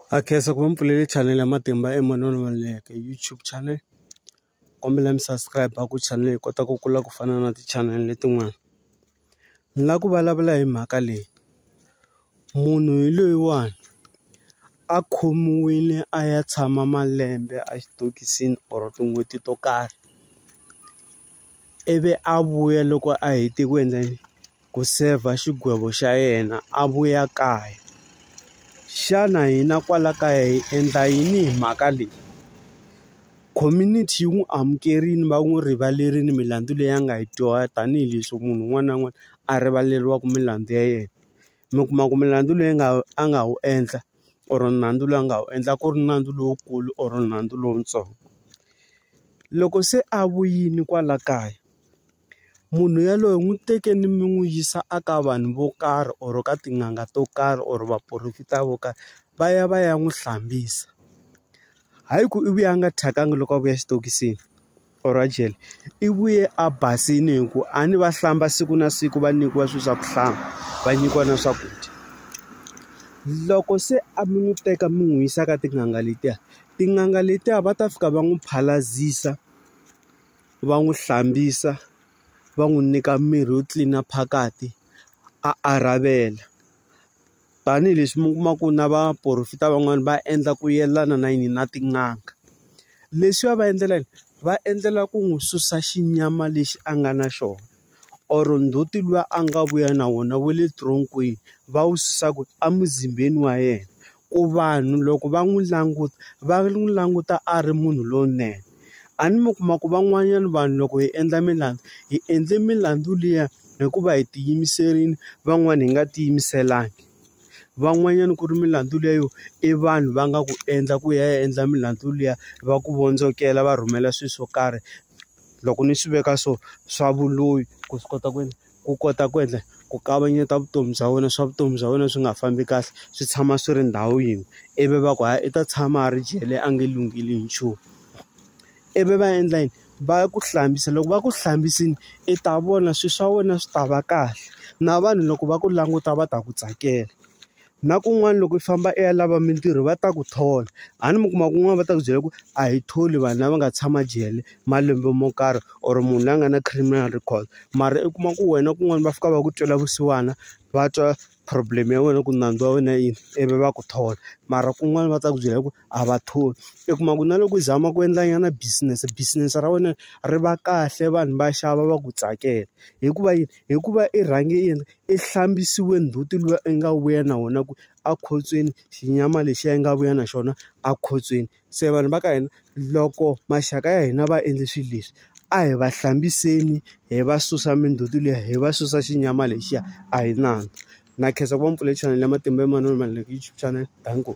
Ha khensa ku va mi pfulele chanele ya matimba emanoni wa Meleke YouTube channel kombela mi subscribe ku channel yi kota ku kula ku fana na ti-channel letin'wana ni la ku vulavula hi mhaka leyi munhu hi loyiwani a khomiwile a ya tshama malembe a xitokisini or tin'hweti to karhi ivi a vuya loko a hete ku endla yini. ku sevha xigwevo xa yena a vuya kaya. Xana hina kwala kaya hi endla yini hi mhaka leyi? Community yi n'wi amukerile va n'wi rivalerile milandzu leyi a nga yi dyoha tanihileswi munhu un'wana na un'wana a rivaleriwaka milandzu ya yena. Mi kuma ku milandzu leyi nga a nga wu endla or nandzu lowu a nga wu endla ku ri nandzu lowukulu or nandzu lowutsongo. Loko se a vuyile kwala kaya. munhu yaloye n'wi teke ni mi n'wi yisa a ka vanhu vo karhi or ka tin'anga to karhi or vaporofeta vo karhi va ya va ya n'wi hlambisa hayi ku i vuya a nga thyakanga loko a vuya xitokisini or a jele i vuye a basile hi ku a ni va hlamba siku na siku va nyikiwa swilo swa ku hlamba va nyikiwa na swakudya loko se a mi n'wi teka mi n'wi yisa ka tin'anga letiya tin'anga letiya va ta fika va n'wi phalazisa va n'wi hlambisa va n'wi nyika mirhi yo tlilina phakati a a ravela tanihileswi mi kuma ku na va porofeta van'wani va endla ku yelana na yini na tin'anga leswi va va endlela yini va endlela ku n'wi susa xinyama lexi a nga na xona. or ndzhuti luwa a nga vuya na wona wa le tronk-wini va wu susa kwini? Emuzimbeni wa yena. Ku vanhu loko va n'wi languta va n'wi languta a ri munhu lowunene. A ni mi kuma ku van'wanyana vanhu loko hi endla milandzu, hi endle milandzu liya hikuva hi ti yimiserile van'wani hi nga ti yimiselanga. Van'wanyana ku ri milandzu liya yo i vanhu va nga ku endla ku ya endla milandzu liya va ku vondzokela va rhumela swilo swo karhi. loko ni swi veka so swa vuloyi ku swi kota ku ku kota ku endla ku kavanyeta vutomi bya wena swa vutomi bya wena swi nga fambi kahle swi tshama swi ri ndhawu yin'we ivi va ku hayi i ta tshama a ri jele a nge lungheli hi nchumu ivi va endla yini va ku hlambisa loko va ku hlambisile i ta vona swilo swa wena swi ta va kahle na vanhu loko va ku languta va ta ku tsakela. Na kun'wana loko i famba i ya lava mintirho va ta ku thola a ni mi kuma kun'wana va ta ku byela ku a hi tholi vanhu lava nga tshama jele malembe mo karhi or munhu la nga na criminal record mara i kuma ku wena kun'wana va fika va ku twela vusiwana va twa problem ya wena ku nandzu wa wena i yini ivi va ku thola mara kun'wana va ta ku byela ku a va tholi i kuma ku na loko i zama ku endla nyana business business ra wena ri va kahle vanhu va xava va ku tsakela hikuva yini hikuva i rhange i yini. I hlambisiwe ndzhuti luya i nga vuya na wona ku a khotsweni xinyama lexiya i nga vuya na xona a khotsweni. Se vanhu va ka hina loko maxaka ya hina va endle swilo leswi, a hi va hlambiseni hi va susa mindzhuti liya, hi va susa xinyama lexiya. A hi nandzu. Na khensa ku va ni pfule chanele ya Matimba Emanoni Maluleke YouTube channel. Danko.